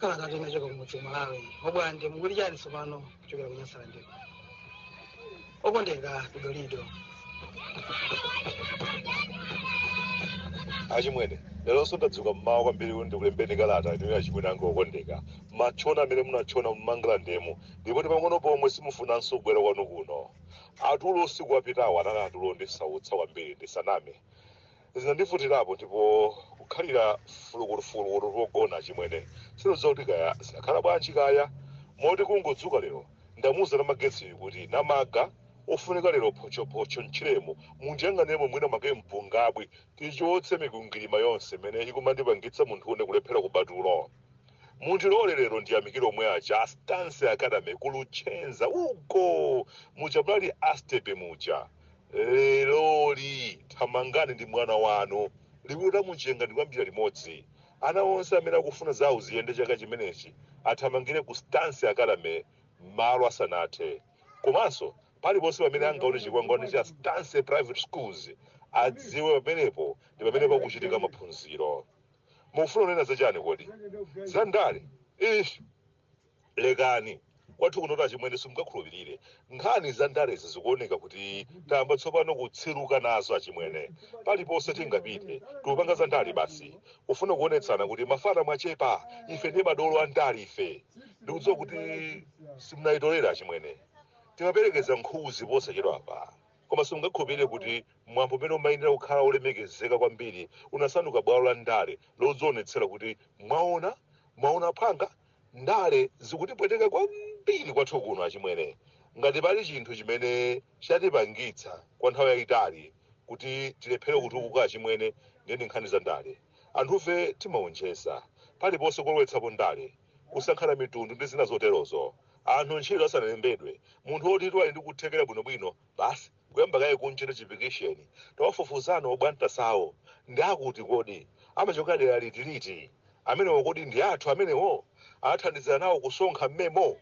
kalatatu inachoka kumudzi ku malawi obwande mukuli chani tsopano kuchokera ku nyasalandiko okondeka kudolido achimwene leronso ndadzuka mmawa kwambiri kuti ndikulembeni kalata inoyi achimwene anga okondeka matchona amene munatchona mu mangalandemo ndipo ndi pang'ono pomwe simufunanso kubwera kwanu kuno atulo usiku wapitawo anali atulo ondisautsa kwambiri ndisaname Zinandivutirapo ndipo kukhalira fulukutufulukutu pogona achimwene sindidziwa kuti kaya zinakhala bwanji kaya moti kungodzuka lero ndamuuza Namagetsiyu kuti Namaga ofunika lero phochophocho mtchiremo mundiyang'anemo mwina mwake mpungabwi tichotse mikwingwirima yonse imene ikumandipangitsa munthune kulephera kuba tulo. Mundilole lero ndiyamikire omwe aja a Stance Academy ku Luchenza uko muja munali astepe muja. leroli thamangani ndi mwana wanu liwiro la mumchenga ndi kuyambira limodzi ana onse amene akufuna zawo ziyende chaka chimenechi athamangire ku stance academy malo asanathe komanso paliponse pamene angaone chikwangwani cha stance private schools adziwe pamenepo ndi pamene pakuchitika maphunziro mufuna kunena zachani kodi zandale ish lekani kwathu kunoto achimwene simungakhulupirire nkhani za ndalezi zikuoneka kuti tayamba tsopano kutsiruka nazo achimwene paliponse tingapite tikupanga za ndale basi kufuna kuonetsana kuti mafana mwachepa ife ndi madolo a ndale ife ndikudziwa kuti simunayitolere achimwene timaperekeza nkhuzi posachedwa apa koma simungakhulupirire kuti mwambo umene umayenera kukhala wolemekezeka kwambiri unasanduka bwalo la ndale lodzionetsera kuti mwaona mwaona phwanga Ndale zikutipweteka kwambiri kwathu kuno achimwene. Ngati pali chinthu chimene chatipangitsa kwa nthawi yaitali kuti tilephere kutukuka achimwene ndiye ndi nkhani za ndale. Anthufe timaonjeza. Paliponse kulowetsapo ndale. Kusankhana mitundu ndi zina zoterozo. Anthu ntchito asanalembedwe, munthu wotitu ali ndi kuthekera bwinobwino basi. Kuyamba kaye kunchita chipikisheni. Tawafufuzani obwantasawo. Ndi akuti kodi? Amachokera dera liti liti? Amenewo kodi ndi athu amenewo? Anathandizira nawo kusonkha mmemo?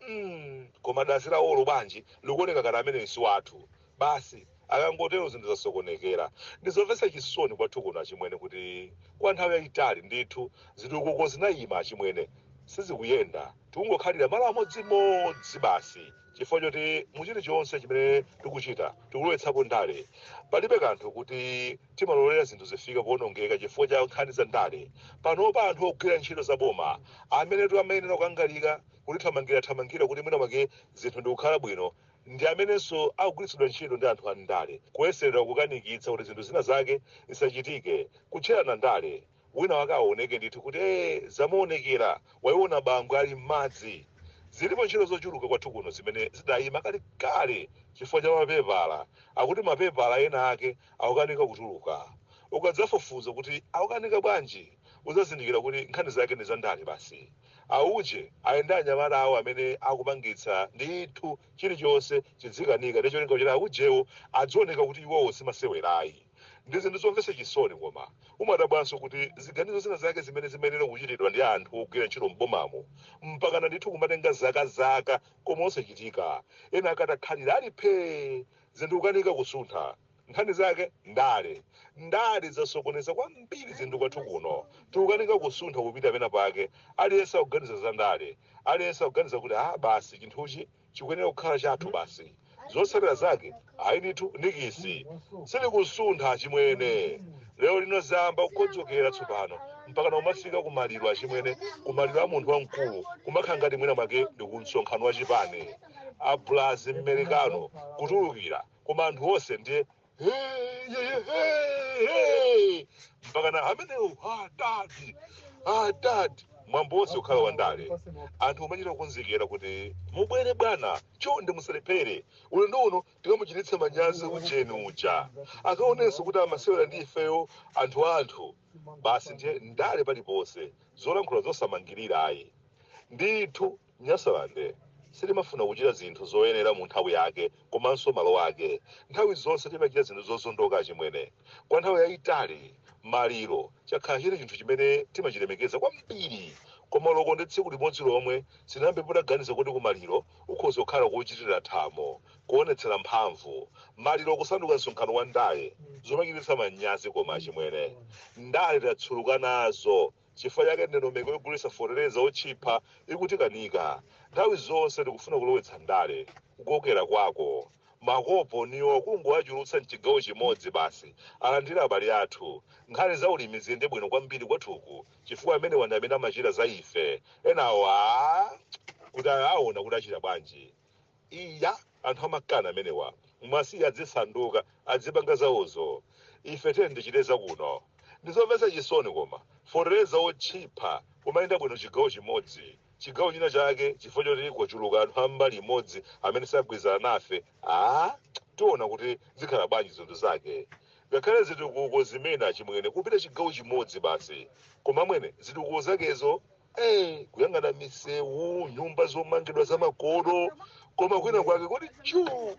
mm koma dazi lawolo bwanji likuoneka ngati ameneyu si wathu basi. Akangotero zinthu zasokonekera. Ndi zomvetsa chisoni kwathu kuno achimwene kuti kwa nthawi yaitali ndithu zitukuko zinaima achimwene. Sizikuyenda. Tikungokhalira malo amodzimodzi basi. chifukwa choti mu chilichonse chimene tikuchita tikulowetsapo ndale palibe kanthu kuti timalolera zinthu zifike poonongeka chifukwa cha nkhani za ndale panopa anthu ogwira ntchito za boma amenetu amayenera kukangalika kutithamangira thamangira kuti mwina mwake zinthu ndikukhala bwino ndi amenenso akugwiritsidwa ntchito ndi anthu a ndale kuyeserera kukanikitsa kuti zinthu zina zake zisachitike kutcherana ndale Wina wake aoneke ndithu kuti ee zamuonekera waiona bangwe ali mmadzi. Zilipo ntchito zochuluka kwathu kuno zimene zidaima kalekale chifukwa cha mapepala akuti mapepala ena ake akukanika kutuluka. Ukadzafufuza kuti akukanika bwanji udzazindikira kuti nkhani zake ndi za ndale basi. Auje aye ndi anyamata awo amene akupangitsa ndithu chilichonse chidzikanika ndi cholinga choti aujewo adzioneka kuti iwowo si masewera ayi. Ndi zinthu zomvetsa chisoni koma umadabwanso kuti ziganizo zina zake zimene zimayenera kuchitidwa ndi anthu ogwira ntchito m'bomamo mpakana ndithu kumatenga zaka zaka koma osachitika. Ena akatakhalira ali phee! Zinthu kukanika kusuntha. Nkhani zake? Ndale. Ndale zasokoneza kwambiri zinthu kwathu kuno. Tikukanika kusuntha kupita pena pake. Aliyense akuganiza za ndale. Aliyense akuganiza kuti ah basi chinthuchi chikuyenera kukhala chathu basi. Zotsatira zake, ayi ndithu, nikisi! Sitikusuntha, achimwene. Lero lino zayamba kukodzokera tsopano, mpakana kumafika ku maliro, achimwene, ku maliro a munthu wamkulu, kumakhala ngati mwina mwake ndi ku msonkhano wa chipani. Abulazi Mmerekano kutulukira, koma anthu onse ndiye. Hey, hey, hey, hey. mpaka na amenewo adadi adadi mwambo wonse ukhala wandale anthu kumachita kukonzekera kuti mubwere bwana chonde musalephere ulendo uno tikamuchititse manyazi ujeni uja akaonenso kuti amasewera ndi ifeyo anthu anthu basi ndiye ndale paliponse zolankhula zosamangirira ayi ndithu Nyasaland sitimafuna kuchita zinthu zoyenera mu nthawi yake komanso malo ake. Nthawi zonse timachita zinthu zozondoka achimwene. Kwa nthawi yaitali, maliro chakhala chili chinthu chimene timachilemekeza kwambiri. Koma loko ndi tsiku limodzi lomwe sitinayambepo taganiza kuti ku maliro kukhoza kukhala kochitira thamo, kuonetsera mphamvu, maliro kusanduka msonkhano wa ndale, zomachititsa manyazi koma achimwene. Ndale tatsuluka nazo. Chifukwa chake ndondomeko yogulitsa fotereza wotchipa ikutikanika. Nthawi zonse tikufuna kulowetsa ndale. Kukokera kwako makoponiwo kungowachulutsa m'chigawo chimodzi basi, alandire abale athu. Nkhani za ulimi ziyende bwino kwambiri kwathuku chifukwa amenewa ndi amene amachita za ife. Enawo aa kuti aona kuti achita bwanji. Iya, anthu amakani amenewa. Mwasiya adzisanduka, adzipanga zawozo. Ife tiyeni tichite za kuno. Ndizomvetsa chisoni koma. Fotereza otchipa kumayenda bwino chigawo chimodzi. Chigawo china chake chifukwa choti kwachuluka anthu a mbali imodzi amene sagwirizana nafe, aah, tiona kuti zikhala bwanji zinthu zake. Ngakhale zitukuko zimene achimwene kupita chigawo chimodzi basi. Koma amwene, zitukuko zakezo? Eh, kuyang'ana misewu nyumba zomangidwa zamakono koma kwina kwake kuti chuu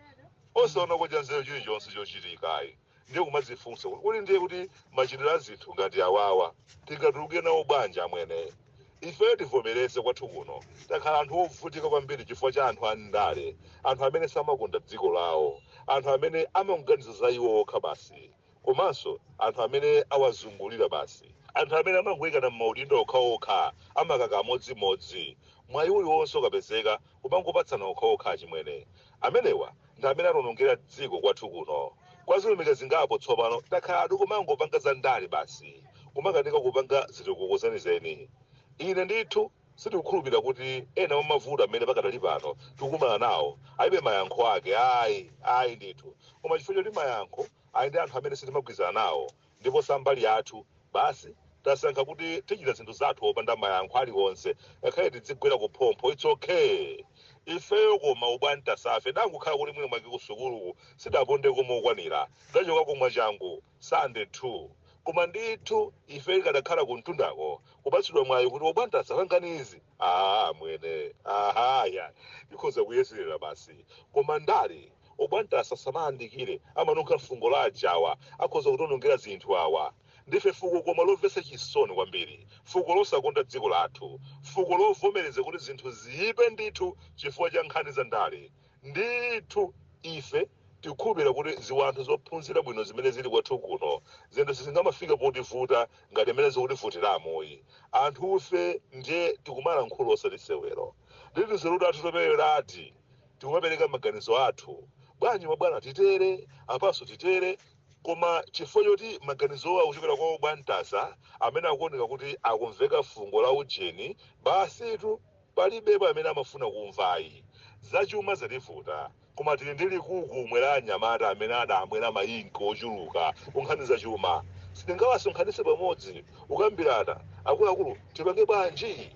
osaona kodya nzeru chilichonse chochitikayi ndiye kumadzifunsa kuti ndiye kuti machitidwe a zinthu ngati awawa tingatuluke nawo bwanji amwene ifeyo tivomereze kwathu kuno takhala anthu ovutika kwambiri chifukwa cha anthu andale anthu amene samakonda dziko lawo anthu amene amangoganiza za iwo okha basi komanso anthu amene awazungulira basi. Anthu amene amangoikana m'maudindo okhaokha amakaka amodzimodzi, mwayi uliwonse ukapezeka kumangopatsana okhaokha achimwene. Amenewa ndi amene atiwonongera dziko kwathu kuno. Kwa zilumika zingapo tsopano takhala tikumangopanga za ndale basi kumakanika kupanga zitukuko zenizeni. Ine ndithu. Sitikukhulupirira kuti ena mwa mavuto amene pakadali pano tikukumana nawo alibe mayankho ake ayi, ayi ndithu, koma chifukwa choti mayankho ali ndi anthu amene sitimagwirizana nawo ndipo sambali yathu, basi tasankha kuti tichita zinthu zathu opanda mayankho aliwonse ngakhale tidzigwera kuphompho it's ok ifeyo koma obwantasafe, tidangokhala kuti mwina mwake kusukuluku sitidapondeko mokwanira, tidachokako mwachangu. Standard 2. Koma ndithu ife ikadakhala kumtundako kupatsidwa mwayi kuti obwantasa pangani izi aah amwene aha yayi tikhoza kuyeserera basi koma ndale obwantasa asamayandikire amanunkha fungo la ajawa akhoza kutionongera zinthu awa ndife fuko koma lomvetsa chisoni kwambiri fuko losakonda dziko lathu fuko lovomereza kuti zinthu ziyipe ndithu chifukwa cha nkhani za ndale Ndithu ife tikukhulupirira kuti ziwanthu zophunzira bwino zimene zili kwathu kuno, zinthu sizingamafike potivuta ngati mmene zikutivutiramu ayi. Anthufe ndiye tikumalankhula osati sewero. Ndi tunzeru tathu toperewerati tikumapereka maganizo athu. Bwanji mabwana titere, apanso titere? Koma chifukwa choti maganizowo akuchokera kwa obwantasa amene akuoneka kuti akumveka fungo la ujeni, basitu. Palibepo amene amafuna kumva ayi. Zachuma zativuta koma tili ndi likukumwe la anyamata amene adamwera ma ink ochuluka ku nkhani za chuma. Sitingawasonkhanitse pamodzi kukambirana akuluakulu tipange bwanji?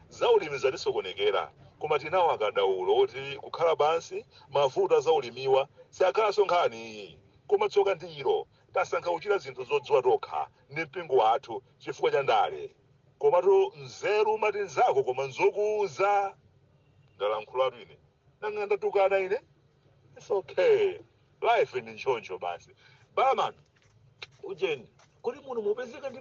Za ulimi zatisokonekera koma tili nawo akadaulo oti kukhala pansi mavuto a za ulimiwa sakhalanso nkhani ayi. Koma tsoka ndi ilo. Tasankha kuchita zinthu zodziwa tokha ndi mpingo wathu chifukwa cha ndale. Komatu nzeru umati nzako koma nzokuuza. Ndalankhulatu ine. Nanga ndatukana ine? It's okay. Life ndi ntchoncho basi. Barman, ujeni, kodi muno mupezeka ndi